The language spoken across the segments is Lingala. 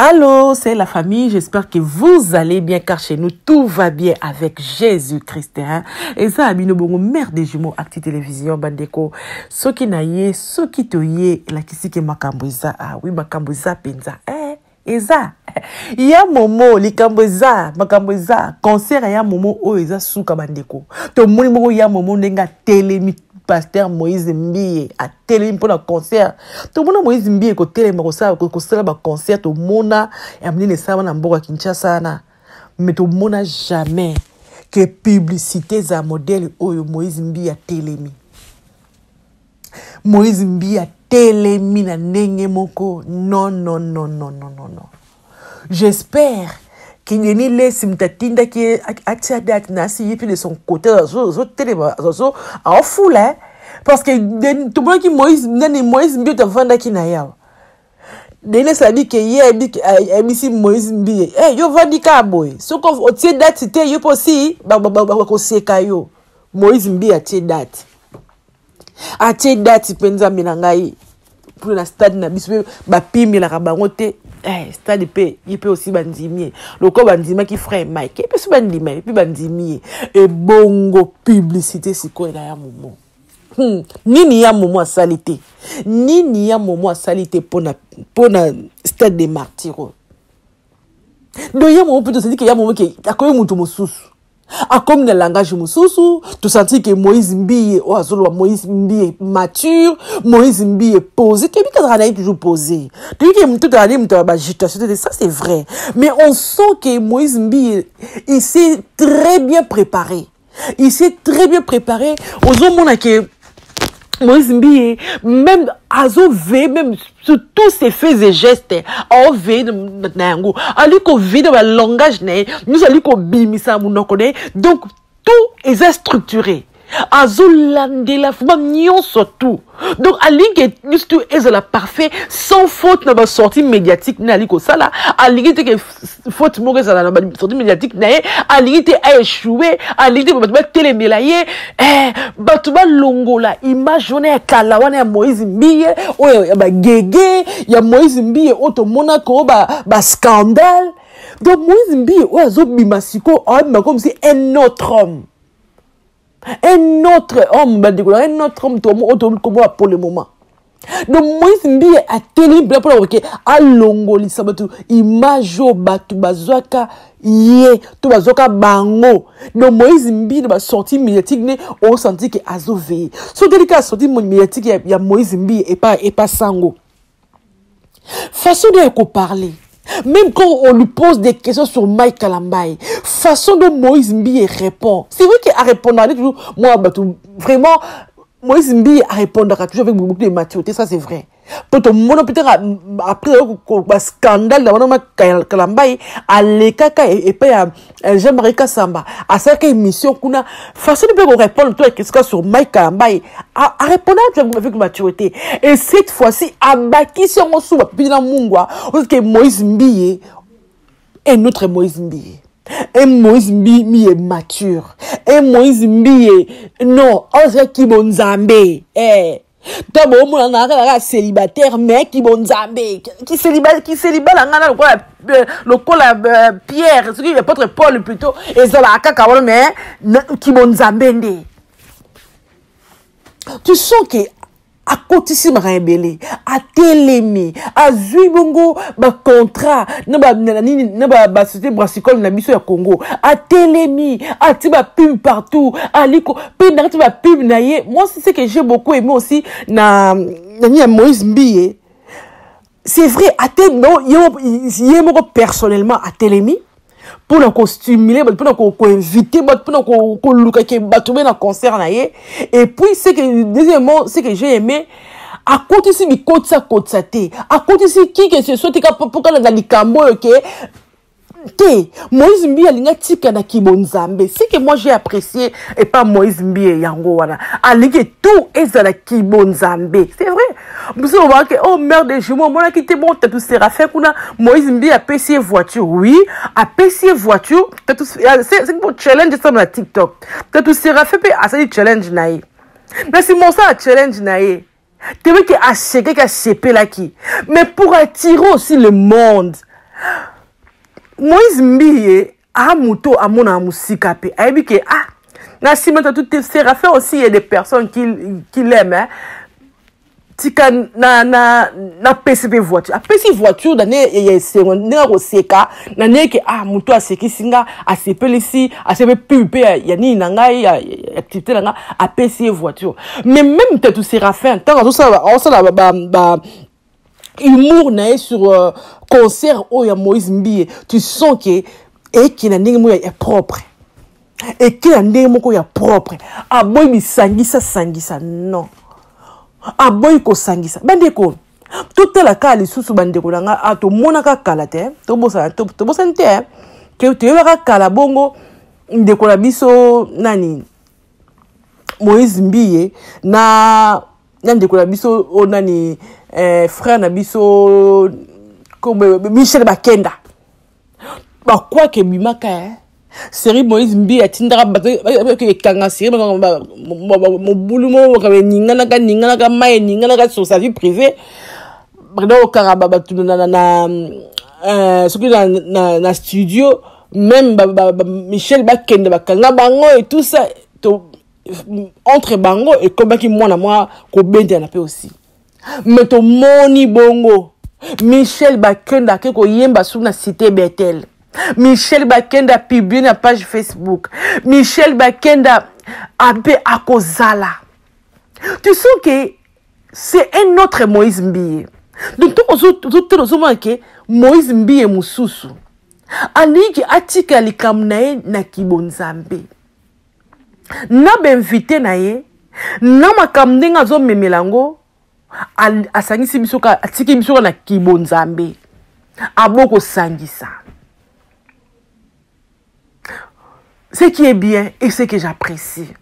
Allô, c'est la famille. J'espère que vous allez bien car chez nous tout va bien avec Jésus-Christ. Hein? Et ça, Abino Bongo, mère des jumeaux, Acti Télévision, Bandeko. Ce qui n'a yé, ce qui te yé, la kisi ke makambuza. Ah oui, makambuza penza. Eh, et ça. ya momo likambo eza makambo eza concert ya momo oyo eza suka bandeko tomoni moko ya momo ndenge atelemi pasteur moïse mbiye atelemi mpo na concert tomona moïse mbiye kotelema kosala baconcert tomona ya minene esalama na mboka kinshasa wana me tomona jamais ke publicité eza modele oyo moïse mbiye atelemi moïse mbiye atelemi na ndenge moko non non non non non non J'espère que Denis Lessi moto atindaki ye atia date na asi ye mpe de son côté azotelema aofula parce que tomonaki moïse nani moïse mbioto avandaki na ye awa Denis Lessi abi ke ye ayebisi moïse mbiye e yo ovandi kaka boye soki otie date te yo mpe osi bakoseka yo moïse mbiye atie date atie ah, dati mpe nzambe na ngai mpo na stade na biso mpe bapimelaka bango te eh, stade mpe ye mpe osi bandimi ye lokola bandimaki frère mike ye mpe so bandima ye mpe bandimi ye ebongo publicité sikoyo na ya momo hmm. nini ya momo asali te nini ya momo asali te mpo na stade de martiro donc ya momo mpe tozali ke ya momo ke akomi moto mosusu akomi na langage mosusu tosanti ke moïse mbiye oyo azoloba moïse mbiye mature moïse mbiye posé toyebi te azalaka na ye toujours posé toyebi ke moto tozala nde moto ya bagitation te ça c'est vrai mais on sent ke moïse mbiye il s'est très bien préparé il s'est très bien préparé ozomona ke moïse mbiye même azoveye même sur tous ses faits et gestes aoveye na yango ali koveye na balangage na ye nyonso ali kobimisa na monoko na ye donc tout eza structuré azolandela fuma nyonso tout donc alingi ete nyonso tout ezala parfait sans faute na basortie médiatique nde ali kosala alingi te ke faute moko ezala na basorti médiatique na ye alingi te aechoue alingi te bato batelemela ye eh, bato balongola image wana ya kala wana ya moïse mbiye oyo ya bagege ya moïse mbiye oyo tomonaka oyo bascandale ba donc moïse mbiye oyo azobima sikoyo abima komsi un autre homme un autre homme bandeko na un autre homme tomo oyo toyebi kombo ya pour le moment donc moïse mbiye atelemi mpela mpona koke alongolisa bato image oyo bato bazwaka ye to bazwaka bango donc moïse mbiye na basortie médiatique ne osanti ke azoveye soki teli kaka sortie médiatique ya, ya moïse mbiye epa epa sango façon de ko parler même quand on lui pose des questions sur Mike Kalambaye façon dont Moïse Mbiye répond c'est vrai qu'il a répondu toujours moi bah, vraiment Moïse Mbiye a répondu toujours avec beaucoup de maturité ça c'est vrai mpo tomona mpe taka après bascandale na wana ma kalambai alekaka epai ya Eh, Jean-Marie Kassamba asalaki émission kuna façon mpe korépondre to ekesika sur Mike Kalambaye arépondaki avec maturité et cette fois-ci abakisi yango susu bapipi na mungwa ozoke Moïse Mbiye et notre Moïse Mbiye un Moïse Mbiye, Mbiye mature un Moïse Mbiye non ozalaki bonzambe eh. to boomona na kaka kaka célibataire mais kibonzambe kiseliba na ngai na lokola euh, lokola euh, pierre soki apôtre paul plutôt ezalaka kaka wana mais kibonzambe nde tu sens ke akotisi makambo ebele atelemi azwi bongo bacontrat na basociété brassicole na biso ya congo atelemi ati bapime partout aliko pub na kati ba pub na ye moi ce que j'ai beaucoup aimé aussi na nani ya moïse mbiye c'est vrai ate no ye moko personnellement atelemi mpo na kostimule bato mpo na koinvite bato mpo na koluka ke bato be na concert na ye et puis ce que deuxièmement ce que j'ai aimé akotisi bikotisa kotisa te akotisi qui que ce soit te mpo kalanda likambo oyo ke te moïse mbi alingi atika na kibonzambe ce que moi j'ai apprécié epa moïse mbi yango wana alingi tout ezala kibonzambe c'est vrai biso lobaka ke oh mère de jumeau omonaki te bon tatu séraphin kuna moïse mbi apesi ye voiture oui apesi ye voiture tatu euh, challenge esalama na tiktok tatu séraphin mpe asali challenge na ye na nsima osala challenge na ye Tebe qui a séqué, qui a sépé là qui. Mais pour attirer aussi le monde. Moïse Mbiye, a moto, a mon amusika pe. A dit que, ah, na si maintenant tout Séraphin aussi, il y a des personnes qui, qui l'aiment, hein. tika na na na pesi pe voiture apesi voiture na ne ya esengo ndenge akoseka na ndenge ke ah moto asekisi nga asepelisi asebe pub mpe ya, ya nini na ngai ya, ya activité na nga apesi ye voiture mais même tatu séraphin ntango azosala aosala ba, ba, ba humour na ye sur euh, concert oyo ya moïse mbiye tu sens ke eke na ndenge moko ya propre eke na ndenge moko ya propre aboyi bisangisa sangisa non aboyi kosangisa bandeko totala kaka lisusu bandeko na ngai a ah, tomonaka kala te tobosana tobosani te eh. toyebaka kala bongo ndeko na biso nani moïse mbiye na na ndeko na biso oyo oh, nani eh, frère na biso michel bakenda bakwaka ebimaka eh? seri moïse mbi atindaka bato ekanga seri mobulu moko eninganaka ninganaka mai eninganaka sur sa vie privée bakenda kokanga bato soki na studio même michel bakende bakanga bango et tout ça entre bango ekomaki mwana mwa kobendana mpe aussi me tomoni bongo michel bakenda ake koyemba soki na cité betel michel bakenda publie na page facebook michel bakenda abe akozala tu sens ke c'est un autre moïse mbiye donc tokozotala ozomona ke moïse mbiye mosusu alingi atika likambo na ye na kibonzambe na bainvite na ye na makambo ndenge azomemela yango asangisi biso kaka atiki biso kaka na kibonzambe abo kosangisa ce qui est bien et ce que j'apprécie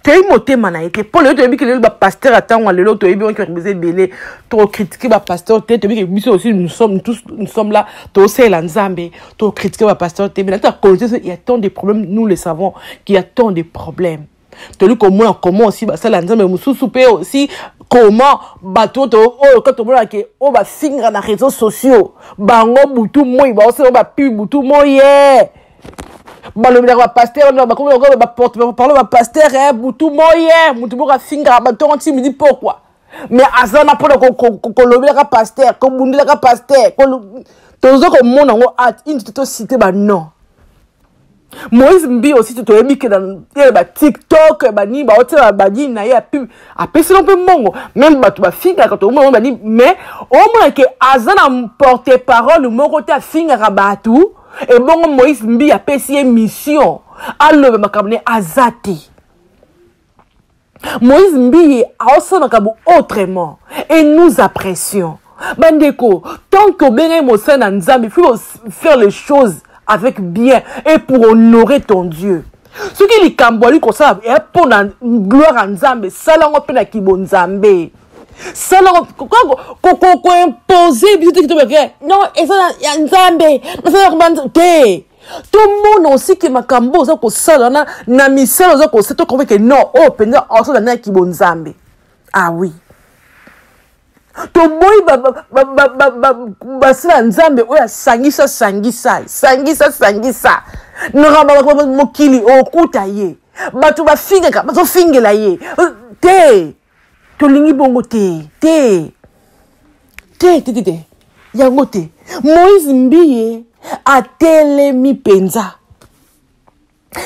toyebi motema na ye te mpo lelo toyebi ke lelo bapaster atango ya lelo toyebi oki bato boza ebele tokokritike bapaster te toyebi ke biso osi nous sommes là tosalela nzambe to critiquer ba pasteur te mais na cause il y a tant de problèmes nous le savons qu'il y a tant de problèmes toli komona comment aussi basala nzambe mosusu mpe aussi comment bato to oyo kaka tomona ke oyo bafinga na réseaux sociaux bango butu moi baosala bapibi butu moi ye eh. balobelaka bapaster bakomiparle bapaster eh, butu moi ye eh. motu moko afingaka bato yango nti midi pokwa me aza na mpona kolobelaka paster kobundelaka paster toza komona yango at ini te tosite banon moïse mbi osi te toyebi ke ye batiktok banini baotyela banini na ye ya pub apesela mpe mbongo meme bato bafingaka toomona banini mais omona ke aza na porte parole moko te afingaka bato ebongo moïse mbi apesi ye mission aloba makambo na ye aza te moïse mbiye aosalaka bo autrement et nous apprécions bandeko tant que obengaki mosali na nzambe il faut faire les choses avec bien et pour honorer ton dieu soki likambo ali kosala eya mpo na gloire ya nzambe sala yango mpe na kibonzambe sala koimpose biso te kitobeke non eza ya nzambe nasala te tomona osi ke makambo oza kosala na, na misala oza kosala tokomi ke non oyo oh, mpenza osala na kibonzambe ah oui toboyi basala nzambe oyo asangisa sangisa sangisa sangisa mokili okuta ye bato bafingaka bazofingela ye te tolingi bongo te te te te te te yango te moïse mbiye atelemi mpenza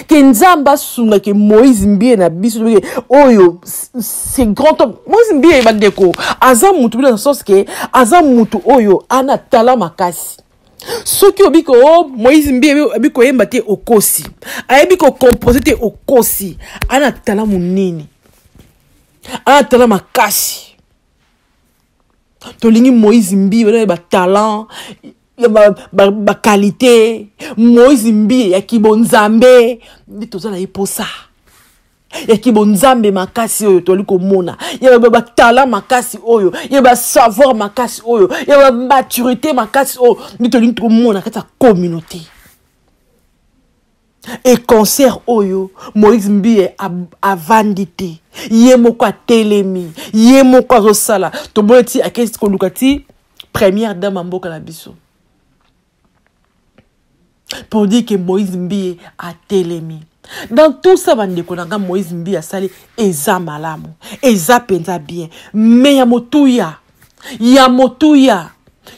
ke nzambe asunga ke moïse mbiye na biso toke oyo c'est grand homme moïse mbiye bandeko aza mutu bino na sens ke aza mutu oyo ana tala makasi soki obi ko oh, moïse mbi abi koyemba te okosi ayebi kocompose te okosi ana tala monene ana tala makasi tolingi moïse mbi bana batalant bakalite ba, ba moïse mbi ya kibonzambe nde toza na ye mposa ya kibonzambe makasi oyo toli komona ya batala makasi oyo ya basavoir makasi oyo ya bamaturité makasi oyo nde tolingi komona kati ya communauté e concert oyo moïse mbiye avandi te ye moko atelemi ye moko azosala tomoni ti akesi koluka ti première dame ya mboka na biso pour dire que moïse mbiye atelemi dans tout ça bandeko na nga moïse mbiye asali eza malamu eza mpenza bien mais ya motuya ya motuya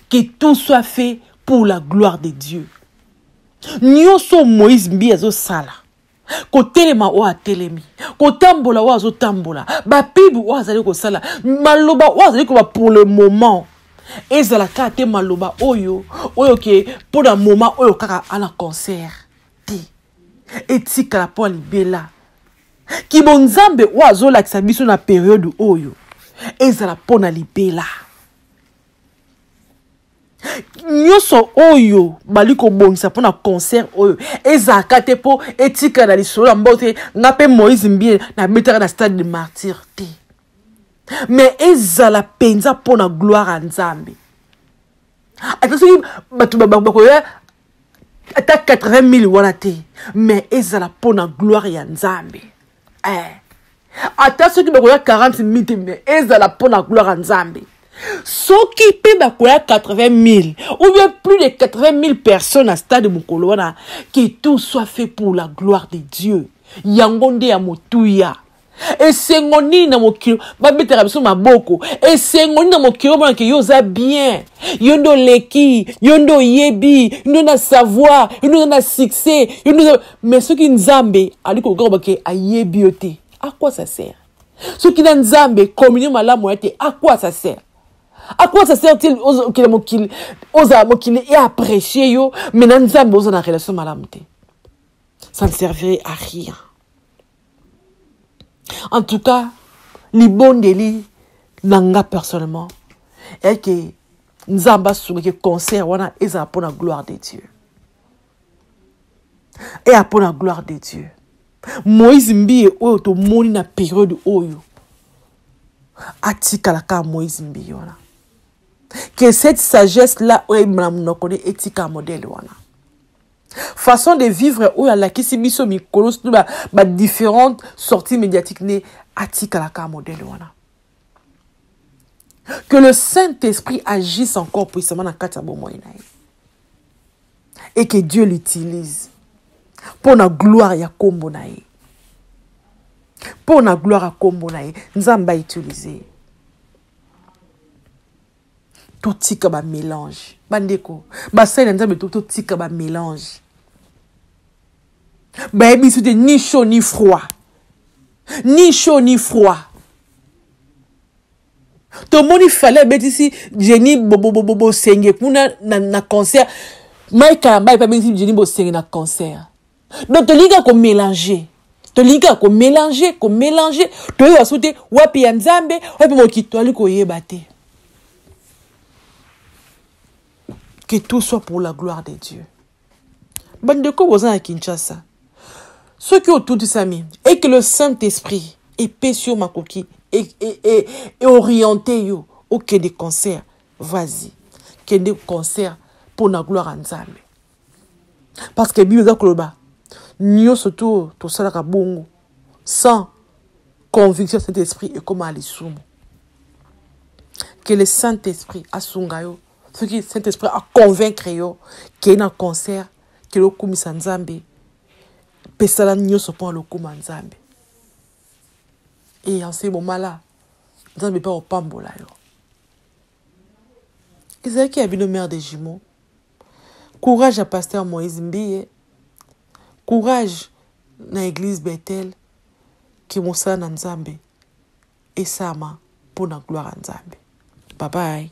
que tout soit fait pour la gloire de dieu nyonso moïse mbiye azosala kotelema oyo atelemi kotambola oyo azotambola bapibe oyo azali kosala maloba oyo azali koba pour le moment ezala kaka te maloba oyo oyo ke mpo na moment oyo kaka ana concert te etikala mpo ya libela kibonzambe oyo azolakisa biso na periode oyo ezala mpo na libela nyonso oyo bali kobongisa mpo na concert oyo ezalaka te mpo etikala na lisolo ya mbao te ngai mpe moïse mbie nabetaka na stade de martyr te mais ezala mpenza mpo na gloire ya nzambe ata soki bato bakoya ata 80 000 wana te mais ezala mpo na gloire ya nzambe eh. ata soki bakoya 40 mille te me ezala mpo na gloire ya nzambe soki mpe bakoya 80 mille ou bien plus de 80 mille personnes na stade mokolo wana que tout soit fait pour la gloire de dieu yango nde ya motuya esengo nini na mokili babetaka biso maboko esengo nini na mokili omona ke yo oza bien yo nde oleki yo nde oyebi yo nde na savoir yo nde oza na succès yo nde mais soki nzambe ali koluka koba ke ayebi yo te à quoi ça sert soki na nzambe communion malamu ya te à quoi ça sert à quoi ça sert il okende mokili ozala mokili e apprécier yo mais na nzambe oza na relation malamu te ça ne servirait à rien en tout cas libondeli na nga personnellement eke nzambe asungaki concert wana ezala mpo na gloire de dieu eya mpo na gloire de dieu moïse mbiye oyo tomoni na periode oyo atikala kaka moïse mbiye wana que cette sagesse là oyo ebima na monoko ne etika modele wana façon de vivre oyo alakisi biso mikolo surtout badifférente ba sortie médiatique ne atikala kaka modele wana que le saint esprit agisse encore puissamment na kati ya bomoi na ye et que Dieu l'utilise pour la gloire ya kombo na ye pour la gloire ya kombo na ye nzambe autilize totika bamélange bandeko basali na nzambe totika bamélange bayebisi te ni chaud ni froid ni chaud ni froid tomoni fale abetisi jeni bosenge kuna na, na concert mike kalamba epe abetisi jeni bosenge na concert donc tolingi kaka komélange tolingi kaka komélange komélange toyeba so te wapi ya nzambe wapi mokili toyali koyeba te que tout soit pour la gloire de dieu bandeko boza na kinshasa soki otutisami et que le saint esprit epesi yo makoki eoriente e, e, e yo okende concert vas-y kende concert mpo na gloire ya nzambe parce que bible eza koloba nyonso to tosalaka bongo sans conviction saint esprit ekómaa lisumu que le saint esprit asunga yo soki saint esprit aconvaincre yo kei na concert kende okumisa nzambe mpe sala nyonso mpo na lokumu ya nzambe e en ce moment là nzambe mpe akopambola yo ezalaki ya bino mare de jumeau courage ya pasteur moïse mbiye courage na eglise bethel ke mosala na nzambe esama mpo na gloire ya nzambe babai